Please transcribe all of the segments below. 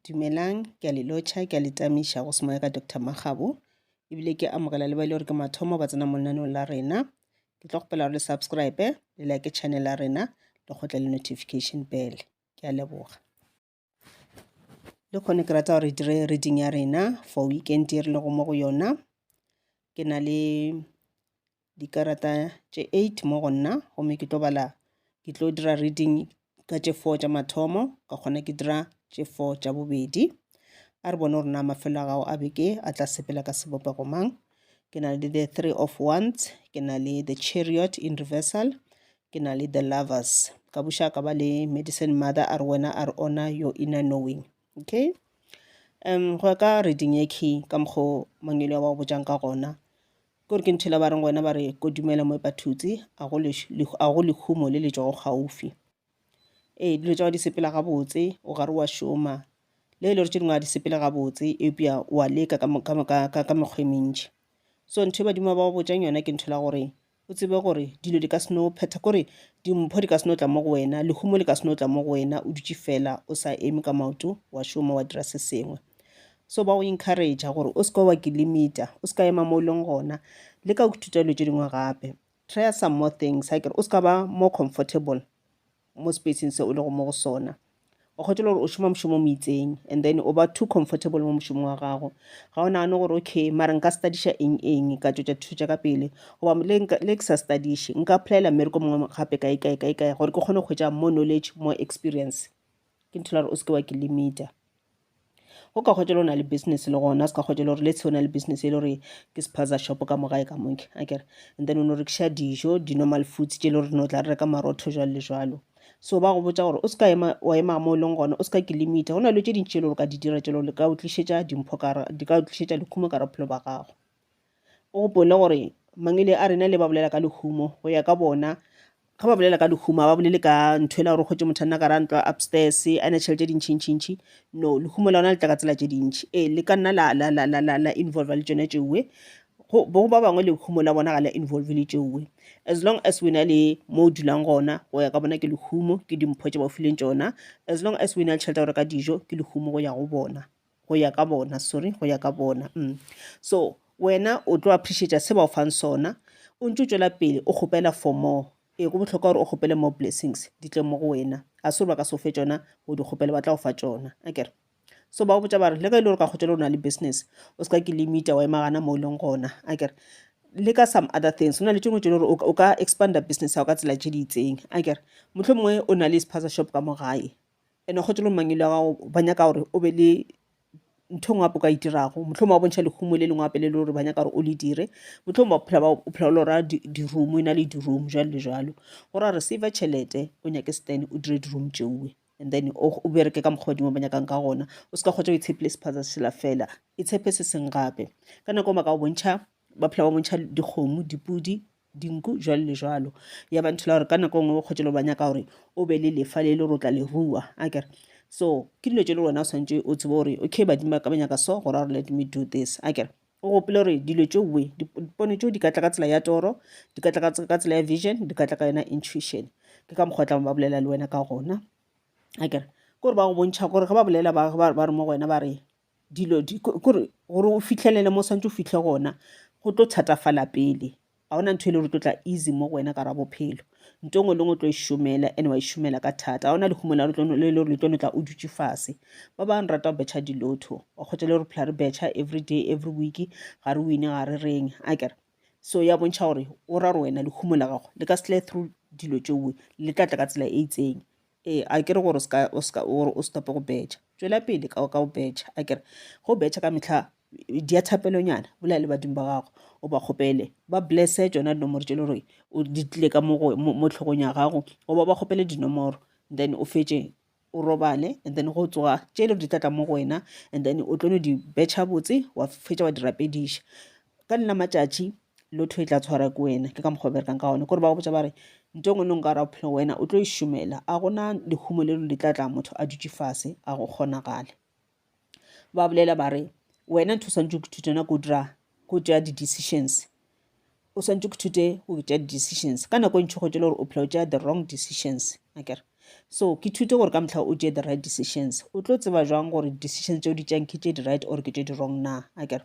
Dumelang, ke a le lotšha, ke a le tamiša go semoya ka Doctor Makgabo, ebile ke amogela le ba e le gore ke mathomo ba tsena mo lenaneong la rena. Ke tlo kgopela gore le subscribe, le like channel ya rena, le kgotle le notification bell. Ke a leboga. Le kgone ke rata gore re dire reading ya rena for weekend e re lego mo go yona. Ke na le dikarata tše 8 mo go nna gomme ke tlo bala ke tlo dira reading ka tše 4 tša mathomo ka kgona ke dira tše 4 tša bobedi a re bone gore na mafelo a gago a beke a tla sepela ka sebopego mang ke na le the three of wands ke na le the chariot in reversal ke na le the lovers ka buša ka ba le medicine mother a re wena a re ona your inner knowing Okay. Um, go ya ka reading ye key ka mokgwa mangwele wa go botjang ka gona ke gore ke nthela ba reng wena ba re ko dumela mo epathutsi a go lehumo le le tšwago gaufi ee dilo tša di sepela gabotse o gare wa šoma le e le gore tše dingwe a di sepele gabotse eupša wa leka ka mekgwa e mentši so ntho e badimo ba go botjang yona ke ntho la gore O tsebe gore dilo di ka se no phetha, kore dimpho di ka se no tla mo go wena, lehumo le ka se no tla mo go wena o dutše fela o sa eme ka maoto wa šoma wa dira se sengwe. So ba go encouragea gore o se ka wa ke limita, o se ka ema mo o leng gona, leka go ithuta dilo tše dingwe gape, try some more things, akere o se ka ba more comfortable. mo spacing se o lego mo go sona o kgethile gore o šoma mošomo mo itseng and then o ba too comfortable mo mošomo wa gago ga o nagane gore okay mara nka studiša eng eng ka tšwetša thuto tša ka pele goba le ke sa studiše nka applyela mmereko mongwe gape kae kae kae kae gore ke kgone go hwetša more knowledge more experience ke nthela gore o seke wa ke limita O ka hwetša le o na le business le gona, o ska hwetša le gore let's say o na le business e le gore ke spaza shop ka mo gae ka moke a kere and then o no rekiša dijo di-normal foods tše e le gore no tla re reka marotho jwalo le jwalo so ba go botsa gore o ska ema wa ema mo e leng gona o ska ke limita go na le tše dintši e le gore ka di dira tše le gore ka o tlišetša dimpho ka di ka o tlišetša lekhumo ka bophelo ba gago O gopole gore Mangele a rena le ba bolela ka lehumo go ya ka bona ga ba bolela ka lehumo ga ba bolele ka ntho ela gore kgotse motho a nna ka ra ntlo upstairs a ne tšhelete di ntšhintšhintšhi no lehumo la ona le tla ka tsela tše dintšhi ee le ka nna la, la, la, la, la, la involva le tsone tšeoe bo ba bangwe lehumo la bona ga la involve le tšeoe as long as wena le mo o dulang gona go ya ka bona ke lehumo ke dimpho tše ba o fileng tšona as long as wena le tšhelete ya go reka dijo ke lehumo go ya go bona go ya ka bona sorry go ya ka bona mm. so wena o tlo appreciate se ba o fang sona o ntse o tswela pele o kgopela for more e go botlhokwa gore o kgopele more blessings di tle mo go wena a se gore ba ka se o fe tsona o di kgopele ba tla o fa tsona a kere so ba o botsa ba re le ge e le gore ka kgotsa le o na le business o se ka ke limita wa emagana mo e leng gona a kere le ka some other things go na le tšengwe tse le gore o ka expanda business ya go ka tsela tše di itseng a kere motlho mongwe o na le spaza shop ka mo gae ene kgotse lo mangelo ya gago ba nyaka gore o be le ntho ngwe apo ka itirago motlhong ba bontšha lehumo le lengwe ape le le gore ba nyaka gore o le dire motlhong ba phela ba o phela o lora di-room e na le di-room jalo le jalo gore a receive tšhelete o nyake stan o dire di-room tšeoe and then o bereke ka mokgwa dimo ba nyakang ka gona o se ka kgotsa o itshepile sephatsa se sela fela itshepe se seng gape ka nako ba ka o bontšha ba phela ba bontšha dikgomo dipudi dinku, bjalo le bjalo. Ya ba ntho la gore ka nako nngwe bokgotši le ba nyaka gore o be le lefa le le rotla le rua a kere so ke dilo tše le wena o swantše o tsebe gore okay badimo ba ka ba nyaka so gore gore let me do this a kere o gopole gore dilo tše we dipono tšeo di ka tla ka tsela ya toro di ka tla ka tsela ya vision di ka tla ka yona intuition ke ka mokgwa tla ba bolela le wena ka gona a kere ke gore ba go bontšha gore ge ba bolela ba re mo go wena ba re dilo di kore gore o fihlelele mo santse o fihle gona go tlo thatafala pele ga ona ntho e le gore tlo tla easy mo go wena ka ra bophelo nto ngwe le ngwe tlo e šomela ene wa e šomela ka thata ga ona lehumo la le le gore le tlo no tla o dutše fase ba ba bang rata go betšha dilotho wa kgotsa le gore phela re betšha every day every week ga re wine ga re reng a kere so ya bontšha gore o ra gore wena lehumo la gago le ka sele through dilo tšoe le tla tla ka tsela e itseng Ee, a ke re gore o se tope go betšha. Tšwela pele ka go betšha. A ke re ge o betšha ka mehla, dia thapelonyana, bolaele badimo ba gago, o ba kgopele ba blesse tšona dinomoro tše le gore di tlile ka mo tlhogong ya gago, goba ba kgopele dinomoro and then o fetše o robale and then go tsoga tše le gore di tla tla mo go wena and then o tlo no di betšha botse wa fetša wa di rapediša. Ka nna matšatši lotho e tla tshwara ke wena ke ka mokgwa o berekang ka one kore ba go botsa ba re nto ngwe nong ka ra bophelo wena o tlo e šomela a gona lehumo le lo le tla tla motho a dutše fase a go kgonagale ba bolela ba re wena ntho o swantse go ithuta yona ko dira go tšea di-decisions o swantse go thute go tšea di-decisions ka nako e ntšhi go tšele gore o phela o tšea the wrong decisions akere so ke thute gore ka motlha o tšee the right decisions o tlo tseba jwang gore decisions tse o di tšeang ke tše di-right or ke tše di-wrong na akere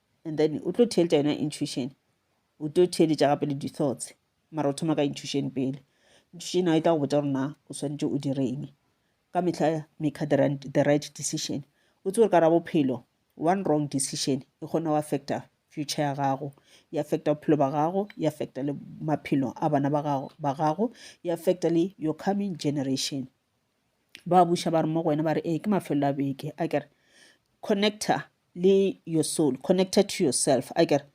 and then o tlo theeletša yona intuition o tlo theeletša gape le di-thoughts mara o thoma ka intuition pele intuition a e tla go botsa gore na o swanetše o direng ka mehla make the right decision o tse gore ka ra bophelo one wrong decision e kgona go affecta future ya gago e affecta bophelo ba gago e affecta le maphelo a bana ba gago e affecta le your coming generation ba buša ba re mo go wena ba re ee ke mafelo a beke a kere connector le your soul connected to yourself a kere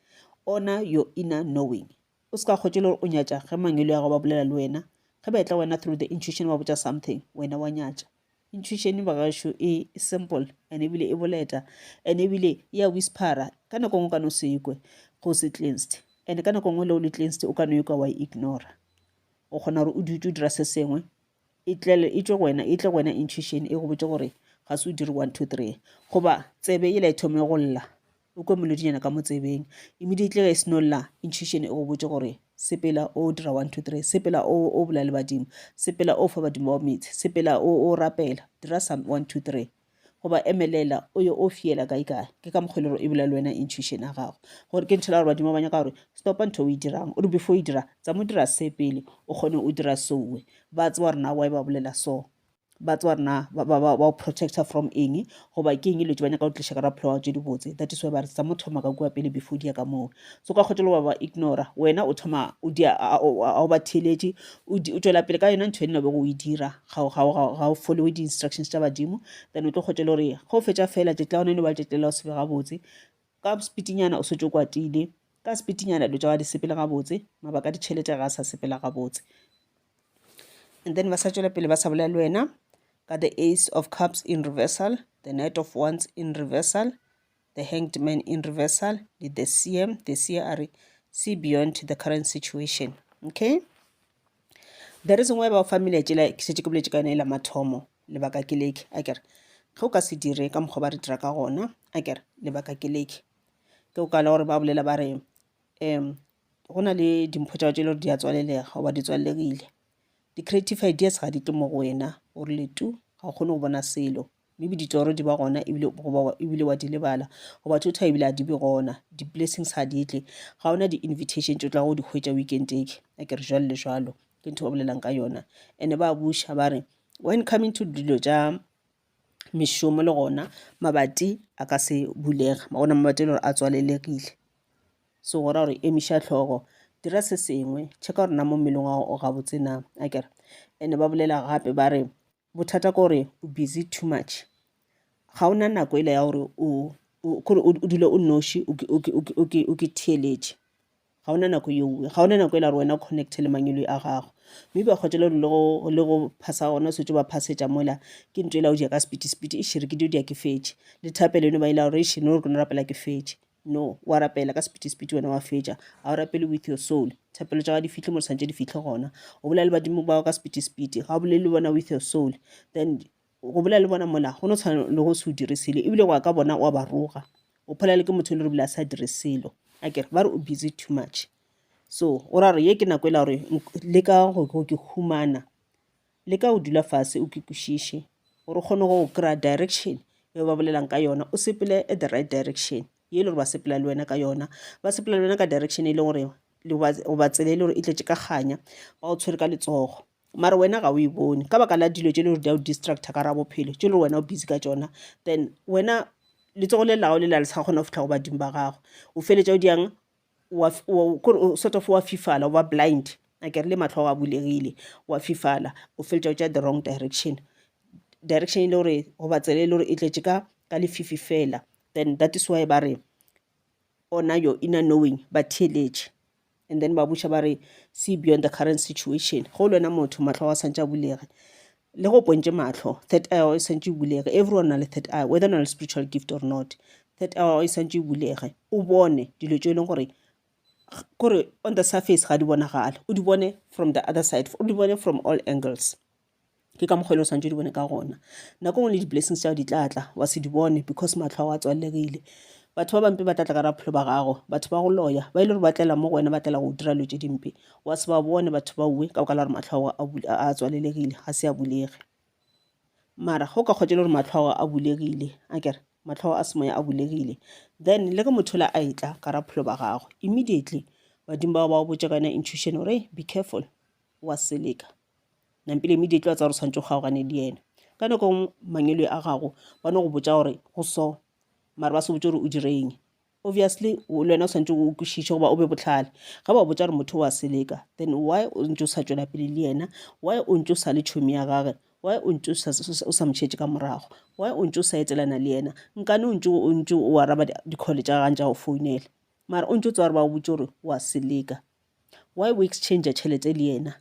honor your inner knowing o se ka kgotse le gore o nyatša ge mangelo ya go ba bolela le wena ge ba etla wena through the intuition ba botša something wena wa nyatša intuition bagašo e simple and ebile e boleta and ebile e a whispera ka nako ngwe ka no se ikwe go se cleansed and ka nako ngwe le o le cleansed o ka no ikwa wa e ignora o kgona gore o dutse o dira se sengwe E tlele, e tšwe go wena, e tle go wena intuition e go botše gore ga se o dire one two three. Goba tsebe yela e thome go lla, o kwe molodinyana ka mo tsebeng. Immediately ge e seno lla, intuition e go botše gore sepela o dira one two three, sepela o o bolela le badimo, sepela o fa badimo bao meetse, sepela o o rapela, dira some one two three. goba emelela o yo o fiela kae kae ke ka mokgwa e lego e bula le wena intuition ya gago gore ke nthela gore badimo ba nyaka gore stopa ntho o e dirang o re before o e dira tsa mo dira se pele o kgone o dira sowe ba tseba gore na wa e ba bolela so ba tseba gore na ba o protecta from eng goba ke eng e letse ba nyaka go tliša ka raphelo wa tse di botse that is why ba re tsa mo thoma ka kua pele before di ya ka moo so ka kgotelo ba ba ignora wena o thoma o ba theeletše o tšwela pele ka yona ntho e nna bego o e dira ga o- ga o- ga o- ga o followe di-instructions tša badimo then o tlo kgwetša e le gore ge o fetša fela tšatši la gona e le ba tšatši lela o se be gabotse ka sepitinyana o setse o kwatile ka sepitinyana dilo tša ga di sepele gabotse mabaka a ditšhelete ga a sa sepela gabotse and then ba sa tšwela pele ba sa bolela le wena ka the ace of cups in reversal the night of ones in reversal The Hanged Man in Reversal le The Seer. The Seer a re see beyond the current situation okay the reason why ba fa mele tšela ke šetše ke boletše ka yone e la mathomo lebaka ke leke a kere ge o ka se dire ka mokgwa ba re dira ka gona a kere lebaka ke leke ke o kala gore ba bolela ba re um go na le dimpho tša tše le gore di a tswalelega goba di tswalelegile di-creative ideas ga di tle mo go wena o rile tu ga o kgone go bona selo Maybe ditoro di ba gona ebile goba ebile wa di lebala goba thotha ebile a di be gona di blessings ha di tle ga ona di invitation tšo tla go di hwetša weekend eke a ke re jwalo le jwalo ke ntho ba bolelang ka yona ene ba buša ba re when coming to dilo tša mešomo le gona mabati a ka se bulega ma gona mabati e le gore a tswalelegile so go ra gore emiša tlhogo dira se sengwe check-a gore na mo mmeleng wa gago o gabotse na a kere ene ba bolela gape ba re Bothata kore o busy too much. Ga o na nako ela ya gore o kore o dule o noši o ke theeletše. Ga o na nako yeo, ga o na nako ela gore wena o connect-e le manyoloi a gago. Maybe wa kgotša le gore le go phasa gona o swanetše o ba phasetša mola ke ntho ela o di ya ka sepiti-sepiti. Eish re ke dio di ya ke fetše. Le thapelo eno ba ela gore eish no re ke no rapela ke fetše. No, o a rapela ka sepitipiti wena wa fetša. Ga o rapele with your soul. Thapelo tša ga di fihle mo di santše di fihle gona. O bolela le badimo bao ka sepitipiti. Ga o bolele le bona with your soul. Then go bolela le bona mola go no tshwana le go se o dire selo ebile go ya ka bona wa ba roga o pholela ke motho e le re bile a sa dire selo a kere ba re o busy too much so o ra gore ye ke nako e la gore le ka go ke humana Leka go dula fase o ke kwešiše gore o kgone go kry-a direction yeo ba bolelang ka yona, o sepele at the right direction ye e le gore ba sepela le wena ka yona. Ba sepela le wena ka direction e leng gore goba tsela e le gore e tletše ka kganya, ba go tshwere ka letsogo mara wena ga o e bone ka baka la dilo tše e le gore di a go distractor ka gare ga bophelo tše e le gore wena o busy ka tšona. Then wena letsogo le la gago le la le sa kgona go fihla go badimo ba gago, o feletša o di yang? wa, wa, kore o sort of wa fifala o ba blind a kere le matlho a bulegile wa fifala o feletša o tša the wrong direction direction e le gore goba tsela e le gore e tletše ka ka lefifi fela then that is why ba re ona your inner knowing ba theeletše and then ba buša ba re see beyond the current situation go le wena motho matlho wa santša bulege le go pontše mahlo third eye o santse o bulege everyone na le third eye whether na le spiritual gift or not third eye o santse o bulege o bone dilo tse e leng gore kore on the surface ga di bonagale o di bone from the other side o di bone from all angles ke ka mokgwa e le o santse o di bone ka gona nako ngwe le di-blessings tsa di tlatla wa se di bone because matlho a wa tswalelegile batho ba bampe ba tlatla ka raphelo ba gago batho ba go loya ba e le gore ba tlela mo go wena ba tlela go dira lo tse dimpe wa se ba bone batho ba uwe ka boka la gore matlho a gago a tswalelegile ga se a bulege mara go ka kgotse le gore matlho a gago a bulegile a kere matlho a semoya a bulegile then le ge motho la a etla ka ra pholo ba gagwe immediately badimo bao ba go botša ka yona intuition gore be careful wa seleka nampile immediately wa tsa gore tshwanetse o kgaogane le yena ka nako mangelo a gago ba no go botša gore go so mara ba se botse gore o direng Obviously le wena o swantše o kwešiše goba o be bohlale. Ge ba botša gore motho o a seleka, then why o ntše o sa tšwela pele le yena? Why o ntše o sa le tšhomi ya gage? Why o ntše o sa mo šetše ka morago? Why o ntše o sa etelana le yena? Nkane o ntše o ntše o araba dikhole tša gagane tša go founela mara o ntše o tseba gore ba o botše gore o a seleka. Why o exchange tšhelete le yena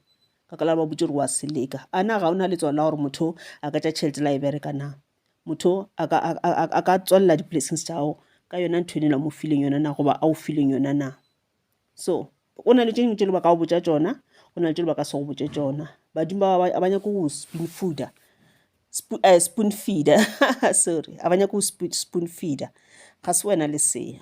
ka ka la gore ba botše gore o a seleka? A na ga o na letswalo la gore motho a ka tša tšhelete la e bereka na? Motho a ka, a, a, a ka tswalela di-blessings tša gago ka yona ntho enela mo fileng yona na goba a o fileng yona na so go na le tše dingwe tše le ba ka go botša tšona go na le tše le ba ka se go botše tšona badimo ba ba nyaka go spoon fooder spoon, uh, spoon feeder sorry a ba nyaka go spoon feeder ga se wena le seya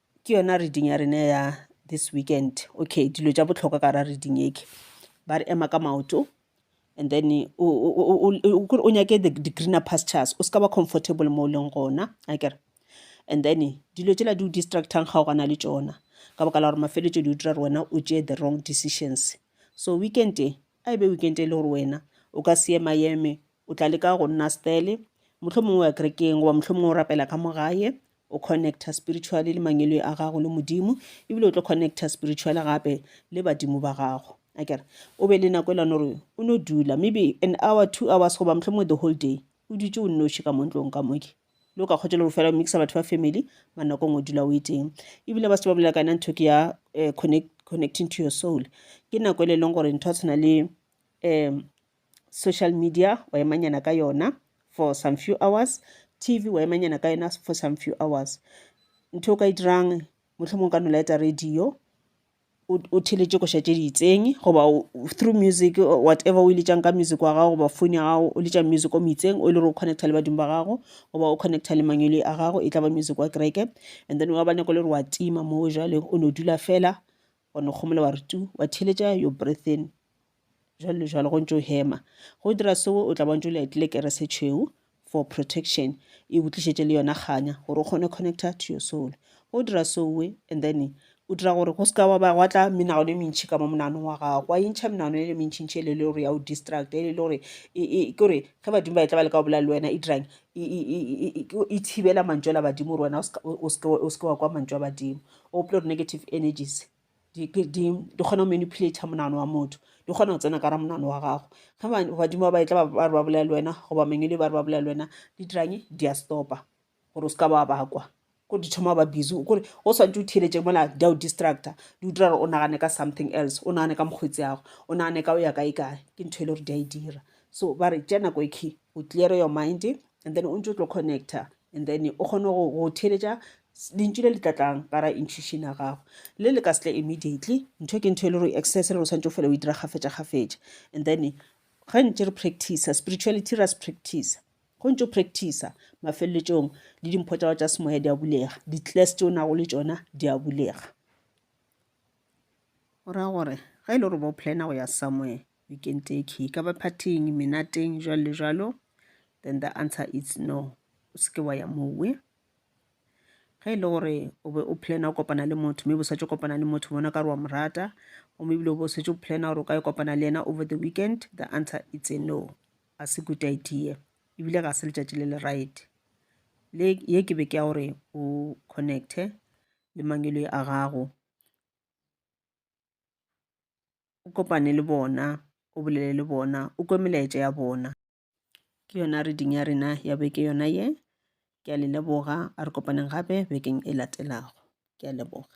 Ke yona reading ya rena ya this weekend. Okay, dilo tša bohlokwa ka ra reading eke ba re ema ka maoto and then o nyake di-greener pastures o se ka ba comfortable mo o leng gona a kere and then dilo tsela di o distractang ga o gana le tšona ka baka la gore mafeletso di o dira gore wena o tšee the wrong decisions so weekend e a e be weekend e le gore wena o ka se ema eme o tla leka go nna stele mohlho mongwe wa kerekeng goba mohlho mongwe o rapela ka mogae O connecta spiritually le mangwelwe a gago le Modimo, ebile o tlo connecta spiritually gape le badimo ba gago. Akere o be le nako e lana gore o no dula maybe an hour, two hours goba mohlomongwe the whole day o dutše o nnoši ka mo ntlong ka moke le o ka kgotša le gore fela o mixa batho ba family mara nako ngwe o dula o e teng ebile ba se ba bolela ka yona ntho ke ya eh, connect, connecting to your soul ke nako e le leng gore ntho tshwana le um Social media wa emanyana ka yona for some few hours. TV wa emanyana ka yona for some few hours. Ntho o ka e dirang mohlomong ka nola eta radio o theletše koša tše di itseng goba through music whatever o iletšang ka music wa gago goba phone ya gago o letša music o moitseng o e le gore o connecta le badimo ba gago goba o connecta le mangwele a gago e tla ba music wa kereke and then wa ba nako le gore wa tima moo jale o no dula fela wa no kgomola wa re tu wa theletša your breathing Jwalo le jwalo go ntše o hema. Go dira seo o tla bontše o liatile kere se tšhweu for protection, e go tlišetše le yona kganya gore o kgone connecta to your soul. Go dira soe and then o dira gore go seka wa ba gwa tla menagano e mentšhi ka mo monanong wa gago wa intšha menagano e le mentšhintšhi e le le gore ya o distract e le le gore e, e, ke gore ge badimo ba e tla ba le ka go bolela le wena e dirang e, e, e, e, e, e thibela mantšu a la badimo gore wena o seke wa kwa mantšu a badimo o opile gore negative energies di, di, di kgona go manipulator monano wa motho di kgona go tsena ka ra monano wa gago ge badimo ba ba etla ba re ba bolela le wena goba mangele ba re ba bolela le wena di dirang di a stopa gore o se ka ba bakwa ko di thoma ba busy kore o swantse o theletše mola di a o distractor di o dira gore o nagane ka something else o nagane ka mokgwetsi yago o nagane ka o ya kae kae ke ntho e le gore di a e dira so ba re tša nako e key o clear your mind and then o ntse o tlo connecta And then o kgone go go theeletša s- lentšu le le tla tlang ka ra intuition ya gago le le ka se tle immediately ntho ke ntho e le gore exercise e le gore o swanetše o fela o e dira kgafetša kgafetša and then ge ntše re practice spirituality ra se practice go ntse o practice mafeleletšong le dimpho tša gago tša semoya di a bulega di-class tše o nago le tšona di a bulega o ra gore ge e le gore bo plana go ya somewhere You can take he ka baphathing, menateng, jwalo le jwalo. Then the answer is no. O se ke wa ya mowe. Ge e le gore o be o plana o kopana le motho mme bosatse o kopana le motho bona ka re wa mo rata gomme ebile o be o setse o plana gore o ka e kopana le yena over the weekend the answer is a no a se good idea ebile ga se letšatši le le right le ye ke be ke ya gore o connecte le mangelo a gago o kopane le bona, o bolele le bona, o kwe melaetša ya bona. Ke yona reading ya rena ya beke yona ye. Ke a le leboga, a re kopaneng gape bekeng e latelago. Ke a leboga.